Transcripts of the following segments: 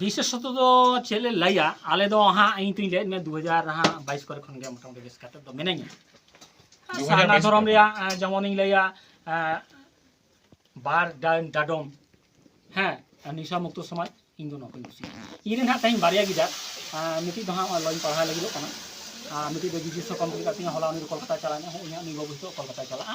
ᱵᱤᱥᱮᱥᱚᱛᱚ ᱫᱚ ᱪᱮᱫ ᱞᱮ ᱞᱟᱹᱭᱟ ᱟᱞᱮ ᱫᱚ ᱦᱟᱸᱜ ᱤᱧ ᱛᱩᱧ ᱞᱟᱹᱭᱮᱫ ᱢᱮ ᱫᱩ ᱦᱟᱡᱟᱨ ᱦᱟᱸᱜ ᱵᱟᱭᱤᱥ ᱠᱚᱨᱮ ᱠᱷᱚᱱ ᱜᱮ ᱢᱚᱴᱟᱢᱩᱴᱤ ᱵᱮᱥ ᱠᱟᱛᱮ ᱫᱚ ᱢᱤᱱᱟᱹᱧᱟ ᱥᱟᱨᱱᱟ ᱫᱷᱚᱨᱚᱢ ᱨᱮᱭᱟᱜ ᱡᱮᱢᱚᱱᱤᱧ ᱞᱟᱹᱭᱟ ᱵᱟᱨ ᱰᱟᱰᱚᱢ ᱦᱮᱸ ᱱᱤᱥᱟ ᱢᱩᱠᱛᱚ ᱥᱚᱢᱟᱡᱽ ᱤᱧ ᱫᱚ ᱱᱚᱣᱟ ᱠᱚᱧ ᱠᱩᱥᱤᱭᱟᱜᱼᱟ ᱤᱧ ᱨᱮᱱ ᱦᱟᱸᱜ ᱛᱮᱦᱮᱧ ᱵᱟᱨᱭᱟ ᱜᱤᱫᱟᱹᱨ ᱢᱤᱫᱴᱤᱡ ᱫᱚ ᱦᱟᱸᱜ ᱞᱚᱧ ᱯᱟᱲᱦᱟᱣ ᱞᱟᱹᱜᱤᱫᱚᱜ ᱠᱟᱱᱟ ᱢᱤᱫᱴᱤᱡ ᱫᱚ ᱡᱤᱡᱤ ᱥᱚᱠᱚᱢ ᱠᱟᱛᱮ ᱦᱚᱞᱟ ᱩᱱᱤ ᱠᱚᱞᱠᱟᱛᱟ ᱪᱟᱞᱟᱣ ᱮᱱᱟ ᱤᱧᱟᱹᱜ ᱩᱱᱤ ᱵᱟᱹᱵᱩ ᱦᱤᱛᱚᱜ ᱠᱚᱞᱠᱟᱛᱟ ᱪᱟᱞᱟᱜᱼᱟ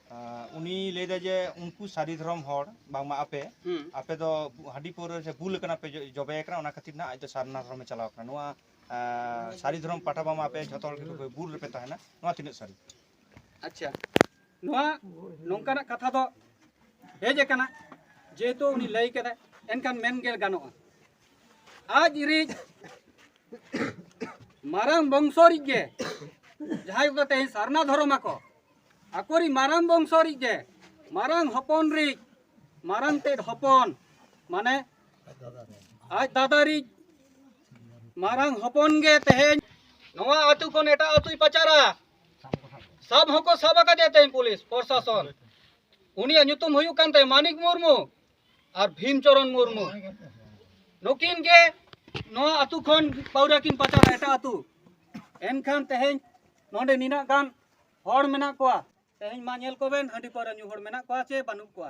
ᱩᱱᱤ ᱞᱟᱹᱭ ᱫᱟ ᱡᱮ ᱩᱱᱠᱩ ᱥᱟᱹᱨᱤ ᱫᱷᱚᱨᱚᱢ ᱦᱚᱲ ᱵᱟᱝᱢᱟ ᱟᱯᱮ ᱟᱯᱮ ᱫᱚ ᱦᱟᱺᱰᱤ ᱯᱟᱹᱣᱨᱟᱹ ᱥᱮ ᱵᱩᱞ ᱠᱟᱱᱟ ᱯᱮ ᱡᱚᱵᱮ ᱠᱟᱱᱟ ᱚᱱᱟ ᱠᱷᱟᱹᱛᱤᱨ ᱱᱟᱜ ᱟᱡ ᱫᱚ ᱥᱟᱨᱱᱟ ᱫᱷᱚᱨᱚᱢᱮ ᱪᱟᱞᱟᱣ ᱠᱟᱱᱟ ᱱᱚᱣᱟ ᱥᱟᱹᱨᱤ ᱫᱷᱚᱨᱚᱢ ᱯᱟᱴᱟ ᱵᱟᱝᱢᱟ ᱟᱯᱮ ᱡᱷᱚᱛᱚ ᱦᱚᱲ ᱜᱮ ᱵᱩᱞ ᱨᱮᱯᱮ ᱛᱟᱦᱮᱱᱟ ᱱᱚᱣᱟ ᱛᱤᱱᱟᱹᱜ ᱥᱟᱹᱨᱤ ᱟᱪᱪᱷᱟ ᱱᱚᱣᱟ ᱱᱚᱝᱠᱟᱱᱟᱜ ᱠᱟᱛᱷᱟ ᱫᱚ ᱦᱮᱡ ᱟᱠᱟᱱᱟ ᱡᱮᱦᱮᱛᱩ ᱩᱱᱤ ᱞᱟᱹᱭ ᱠᱟᱫᱟᱭ ᱮᱱᱠᱷᱟᱱ ᱢᱮᱱ ᱜᱮ ᱜᱟᱱᱚᱜᱼᱟ ᱟᱡ ᱨᱤᱡ ᱢᱟᱨᱟᱝ ᱵᱚᱝᱥᱚ ᱨᱤᱡ ᱜᱮ ᱡᱟᱦᱟᱸᱭ ᱠᱚ ᱛᱮᱦᱮᱧ ᱥᱟᱨᱱᱟ ᱫᱷᱚᱨᱚᱢ ᱟᱠᱚ ᱟᱠᱚᱨᱤ ᱢᱟᱨᱟᱝ ᱵᱚᱝᱥᱚ ᱨᱤᱡ ᱜᱮ ᱢᱟᱨᱟᱝ ᱦᱚᱯᱚᱱ ᱨᱤᱡ ᱢᱟᱨᱟᱝ ᱛᱮᱫ ᱦᱚᱯᱚᱱ ᱢᱟᱱᱮ ᱟᱡ ᱫᱟᱫᱟ ᱨᱤᱡ ᱢᱟᱨᱟᱝ ᱦᱚᱯᱚᱱ ᱜᱮ ᱛᱮᱦᱮᱧ ᱱᱚᱣᱟ ᱟᱹᱛᱩ ᱠᱷᱚᱱ ᱮᱴᱟᱜ ᱟᱹᱛᱩᱭ ᱯᱟᱪᱟᱨᱟ ᱥᱟᱵ ᱦᱚᱸᱠᱚ ᱥᱟᱵ ᱟᱠᱟᱫᱮᱭᱟ ᱛᱮᱦᱮᱧ ᱯᱩᱞᱤᱥ ᱯᱨᱚᱥᱟᱥᱚᱱ ᱩᱱᱤᱭᱟᱜ ᱧᱩᱛᱩᱢ ᱦᱩᱭᱩᱜ ᱠᱟᱱ ᱛᱟᱭᱟ ᱢᱟᱱᱤᱠ ᱢᱩᱨᱢᱩ ᱟᱨ ᱵᱷᱤᱢ ᱪᱚᱨᱚᱱ ᱢᱩᱨᱢᱩ ᱱᱩᱠᱤᱱ ᱜᱮ ᱱᱚᱣᱟ ᱟᱹᱛᱩ ᱠᱷᱚᱱ ᱯᱟᱹᱣᱨᱟᱹ ᱠᱤᱱ ᱯᱟᱪᱟᱨᱟ ᱮᱴᱟᱜ ᱟᱹᱛᱩ ᱮᱱᱠᱷᱟᱱ ᱛᱮᱦᱮᱧ ᱱᱚᱰᱮ ᱱᱤᱱᱟᱹᱜ ᱜᱟᱱ ᱦᱚᱲ ᱢᱮᱱᱟᱜ ᱠᱚᱣᱟ ᱛᱮᱦᱮᱧ ᱢᱟ ᱧᱮᱞ ᱠᱚᱵᱮᱱ ᱦᱟᱺᱰᱤ ᱯᱟᱹᱣᱨᱟᱹ ᱧᱩ ᱦᱚᱲ ᱢᱮᱱᱟᱜ ᱠᱚᱣᱟ ᱥᱮ ᱵᱟᱹᱱᱩᱜ ᱠᱚᱣᱟ